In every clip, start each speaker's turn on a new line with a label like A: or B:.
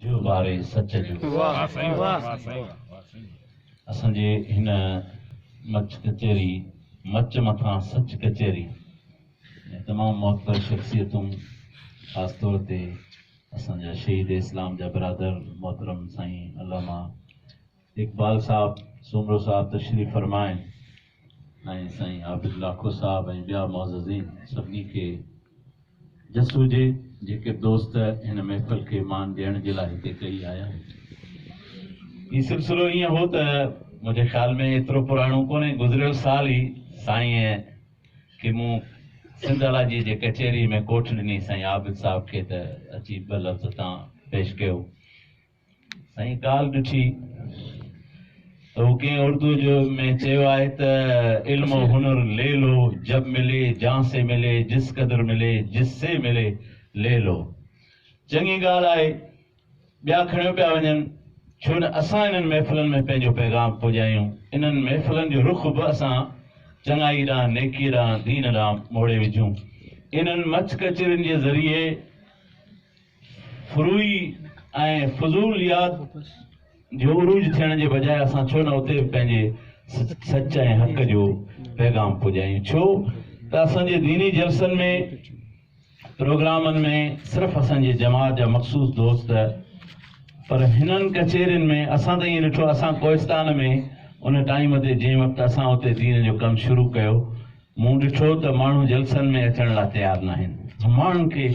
A: جو واري سچ جو اسان جي هن مچ ڪچهري مچ مٿان سچ ڪچهري ۾ تمام معتبر شخصيتون خاص طور تي اسان جا شهيد اسلام جا برادر محترم سائين علامه اقبال صاحب سومرو صاحب تشريف فرمائن ۽ سائين عابد لاکو صاحب ۽ ٻيا معززين سڀني کي جس هجي جيڪي به دوست هن محفل کي مان ڏيڻ جي لاء هتي ڪئي آيا آهن. هي سلسلو ائين هو ته منهنجي خيال ۾ ايترو پراڻو ڪونهي گذريل سال ئي سائين کي مون سنڌ الاجي جي ڪچهري ۾ ڪوٺ ڏني سائين عابد صاحب کي ته اچي ٻه لفظ تان پيش ڪيو. سائين ڪالهه ڏٺي ته هو ڪنهن اردو جو ۾ چيو آهي ته علم و هنر لي لو جب ملي جان سي ملي جس قدر ملي جس سي ملي لي لو چڱي ڳالهه آهي ٻيا کڻيو پيا وڃن ڇو نه اسان انهن محفلن ۾ پنهنجو پيغام پڄايون انهن محفلن جو رخ به اسان چڱائي ڏانهن نيڪي ڏانهن دين ڏانهن موڙي وجهون انهن مچ ڪچهرين جي ذريعي فروعي ۽ فضول ياد جو عروج ٿيڻ جي بجاء اسان ڇو نه اتي به پنهنجي سچ ۽ حق جو پيغام پڄايون. ڇو ته اسان جي ديني جلسن ۾ پروگرامن ۾ صرف اسان جي جماعت جا مخصوص دوست پر هنن ڪچهرين ۾ اسان ته ائين ڏٺو اسان ڪوهستان ۾ ان ٽائيم تي جنهن وقت اسان اتي دين جو ڪم شروع ڪيو مون ڏٺو ته ماڻهو جلسن ۾ اچڻ لا تيار ناهن. ماڻهن کي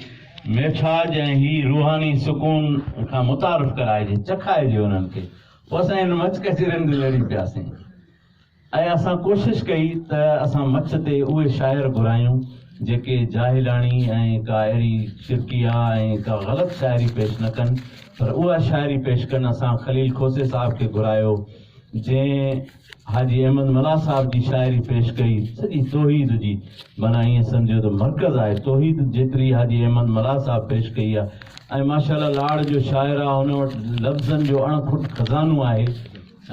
A: ميٺاج ۽ هي روحاني سڪون کان متعارف ڪرائجي، چکائجي انهن کي. پوء اسان هن مچ ڪچهرين تي لڙي پياسين ۽ اسان ڪوشش ڪئي ته اسان مچ تي اهي شاعر گهرايون جيڪي جاهلاڻي ۽ ڪا اهڙي شرڪيه ۽ ڪا غلط شاعري پيش نه ڪن پر اها شاعري پيش ڪن. اسان خليل کوسي صاحب کي گهرايو جنهن. حاجي احمد ملاح صاحب جي شاعري پيش ڪئي، سڄي توحيد جي، معنيٰ ائين سمجهيو ته مرڪز آهي توحيد جيتري حاجي احمد ملاح صاحب پيش ڪئي آهي ۽ ماشاء الله لاڙ جو شاعر آهي هن وٽ لفظن جو اڻ کٽ خزانو آهي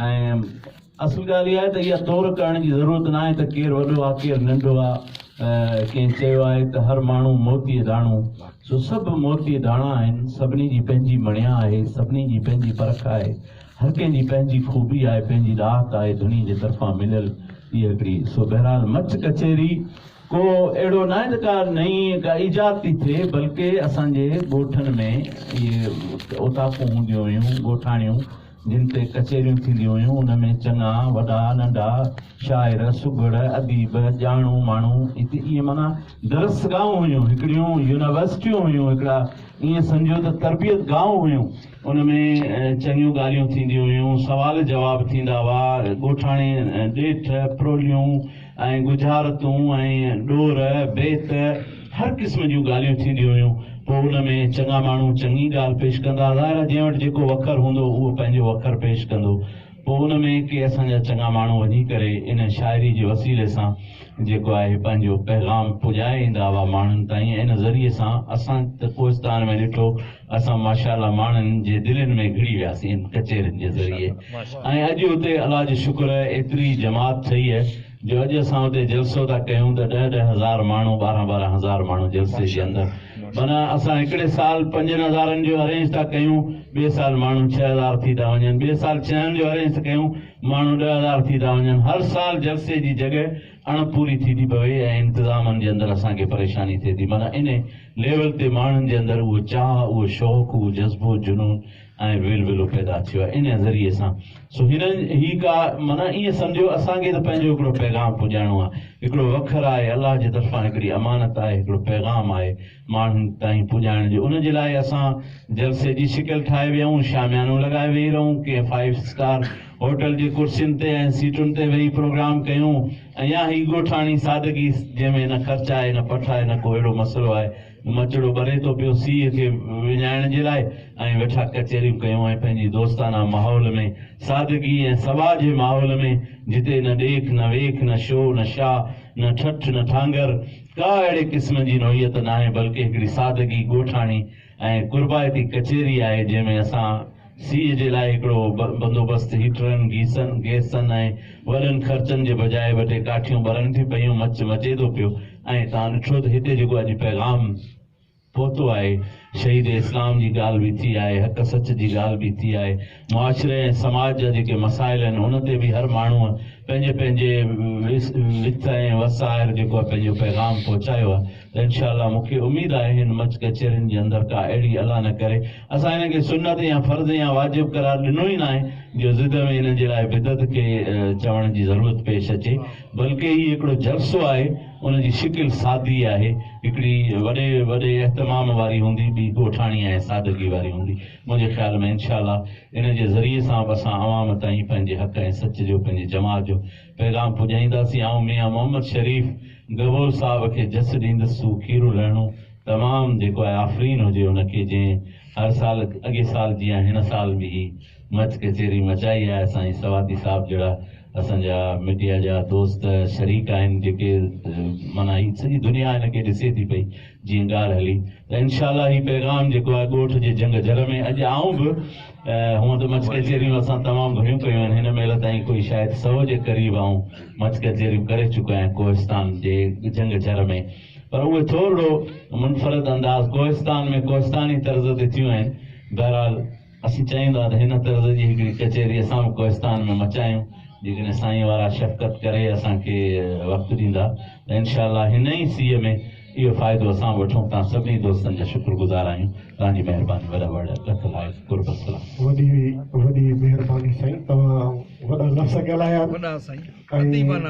A: ۽ اصل ڳالهه اها آهي ته اها تور ڪرڻ جي ضرورت نه آهي ته ڪير وڏو آهي ڪير ننڍو آهي ڪنهن چيو آهي ته هر ماڻهو موتي داڻو سو سڀ موتي داڻا آهن سڀني جي پنهنجي مڻيا آهي سڀني جي پنهنجي پرک آهي هر ڪنهن جي پنهنجي خوبي آهي، پنهنجي ڏاهت آهي، ڌڻي جي طرفان مليل هيء هڪڙي سو بهرحال مچ ڪچهري ڪو اهڙو ناهي ته ڪا نئين ڪا ايجاد ٿي ٿئي بلڪه اسان جي ڳوٺن ۾ اهي اوطاقون هونديون هيون ڳوٺاڻيون جن تي ڪچهريون ٿينديون هيون ان ۾ چڱا وڏا ننڍا شاعر سگهڙ اديب ڄاڻو ماڻو اتي ائين معنيٰ درسگاهون هيون هڪڙيون يونيورسٽيون هيون هڪڙا ائين سمجهو ته تربيت گاهون هيون ان ۾ چڱيون ڳالهيون ٿينديون هيون، سوال جواب ٿيندا هئا، ڳوٺاڻي ڏيٺ، پروليون ۽ ڳجهارتون ۽ ڏور، بيت، هر قسم جون ڳالهيون ٿينديون هيون. پوء ان ۾ چڱا ماڻهو چڱي ڳالهه پيش ڪندا. ظاهر آهي جنهن وٽ جيڪو وکر هوندو اهو پنهنجو وکر پيش ڪندو. پوء ان ۾ ڪي اسان جا چڱا ماڻهو وڃي ڪري ان شاعري جي وسيلي سان جيڪو آهي پنهنجو پيغام پڄائي ايندا هئا ماڻهن تائين ۽ ان ذريعي سان اسان ته ڪوهستان ۾ ڏٺو اسان ماشاءالله ماڻهن جي دلين ۾ گهڙي وياسين ان ڪچهرين جي ذريعي ۽ اڄ اتي الله جو شڪر ايتري جماعت ٺهي جو اڄ اسان اتي جلسو ٿا ڪيون ته ڏهه ڏهه هزار ماڻهو ٻارهن ٻارهن هزار ماڻهو جلسي جي اندر معنيٰ اسان هڪڙي سال پنجن هزارن جو ارينج ٿا ڪيون ٻئي سال ماڻهو ڇهه هزار ٿي ٿا وڃن ٻئي سال ڇهن جو ارينج ٿا ڪيون ماڻهو ڏهه هزار ٿي ٿا وڃن هر سال جلسي جي جڳهه اڻ پوري ٿي ٿي پوي ۽ انتظامن جي اندر اسان کي پريشاني ٿئي ٿي معنيٰ انهي ليول تي ماڻهن جي اندر اهو چاهه اهو شوق اهو جذبو جنون ۽ ويلولو پيدا ٿيو آهي انهي ذريعي سان سو هنن هي ڪا معنيٰ ائين سمجهيو اسان کي ته پنهنجو هڪڙو پيغام پڄائڻو آهي هڪڙو وکر آهي الله جي طرفان هڪڙي امانت آهي هڪڙو پيغام آهي ماڻهن تائين پڄائڻ جي ان جي لاء اسان جلسي جي شڪل ٺاهي ويهون، شاميانو لڳائي ويهي رهون، ڪنهن فائيو اسٽار هوٽل جي ڪرسين تي ۽ سيٽن تي ويهي پروگرام ڪيون ۽ يا هي ڳوٺاڻي سادگي جنهن ۾ نه خرچ آهي نه پٺ آهي نه ڪو اهڙو مسئلو آهي، مچڙو ٻري ٿو پيو سيء کي وڃائڻ جي لاء ائين ويٺا ڪچهريون ڪيون ۽ پنهنجي دوستانه ماحول ۾ سادگي ۽ سباء جي ماحول ۾ جتي نه ڏيک نه ويک نه شو نه شاهه نه ٺٺ نه ٺانگر ڪا اهڙي قسم جي نوعيت ناهي بلڪه هڪڙي سادگي ڳوٺاڻي ۽ قربائتي ڪچهري آهي جنهن ۾ اسان سيء جي لاء هڪڙو بندوبست هيٽرن، گيسن، گئسن ۽ وڏن خرچن جي بجاء ٻه ٽي ڪاٺيون ٻرن ٿي پيون، مچ مچيدو پيو ۽ تان ڏٺو ته هتي جيڪو اڄ پيغام. پهتو آهي، شهيد اسلام جي ڳالهه به ٿي آهي، حق سچ جي ڳالهه به ٿي آهي، معاشري ۽ سماج جا جيڪي مسائل آهن ان تي به هر ماڻهوء پنهنجي پنهنجي وٿ ۽ وس آهر جيڪو آهي پنهنجو پيغام پهچايو آهي ته انشاء الله مون کي اميد آهي هن منچ ڪچهرين جي اندر ڪا اهڙي الا نه ڪري اسان هن کي سنت يا فرض يا واجب قرار ڏنو ئي ناهي جو ضد ۾ هن جي لاء بدعت کي چوڻ جي ضرورت پيش اچي بلڪه هي هڪڙو جلسو آهي ان جي شڪل سادي آهي، هڪڙي وڏي وڏي اهتمام واري هوندي، ٻي ڳوٺاڻي ۽ سادگي واري هوندي. منهنجي خيال ۾ انشاء الله ان جي ذريعي سان به اسان عوام تائين پنهنجي حق ۽ سچ جو، پنهنجي جماعت جو پيغام پڄائينداسين. آئون ميان محمد شريف گبول صاحب کي جس ڏيندس سو کيرو لهڻو تمام جيڪو آهي آفرين هجي ان کي جنهن هر سال اڳي سال جيان هن سال به هي مچ ڪچهري مچائي آهي سائين سواتي صاحب جهڙا اسان جا ميڊيا جا دوست شريڪ آهن جيڪي معنيٰ هي سڄي دنيا هن کي ڏسي ٿي پئي جيئن ڳالهه هلي ته انشاء الله هي پيغام جيڪو آهي ڳوٺ جي جنگ جر ۾ اڄ آئون به هونء ته مچ ڪچهريون اسان تمام گهڻيون ڪيون آهن هن مهل تائين ڪوئي شايد سو جي قريب آئون مچ ڪچهريون ڪري چڪو آهيان ڪوهستان جي جنگ جر ۾ پر اهي ٿورڙو منفرد انداز ڪوهستان ۾ ڪوهستاني طرز تي ٿيون آهن بهرحال اسين چاهيون ٿا ته هن طرز جي هڪڙي ڪچهري اسان به ڪوهستان ۾ مچايون، جيڪڏهن سائين وارا شفقت ڪري اسان کي وقت ڏيندا ته انشاء الله هن ئي سيء ۾ اهو فائدو اسان به وٺون، توهان سڀني دوستن جا شڪر گذار آهيون، توهان جي مهرباني وڏا وڙ لک لائق قرب السلام. وڏي وڏي مهرباني سائين توهان وڏا لفظ ڳالهايا ۽
B: اديبانه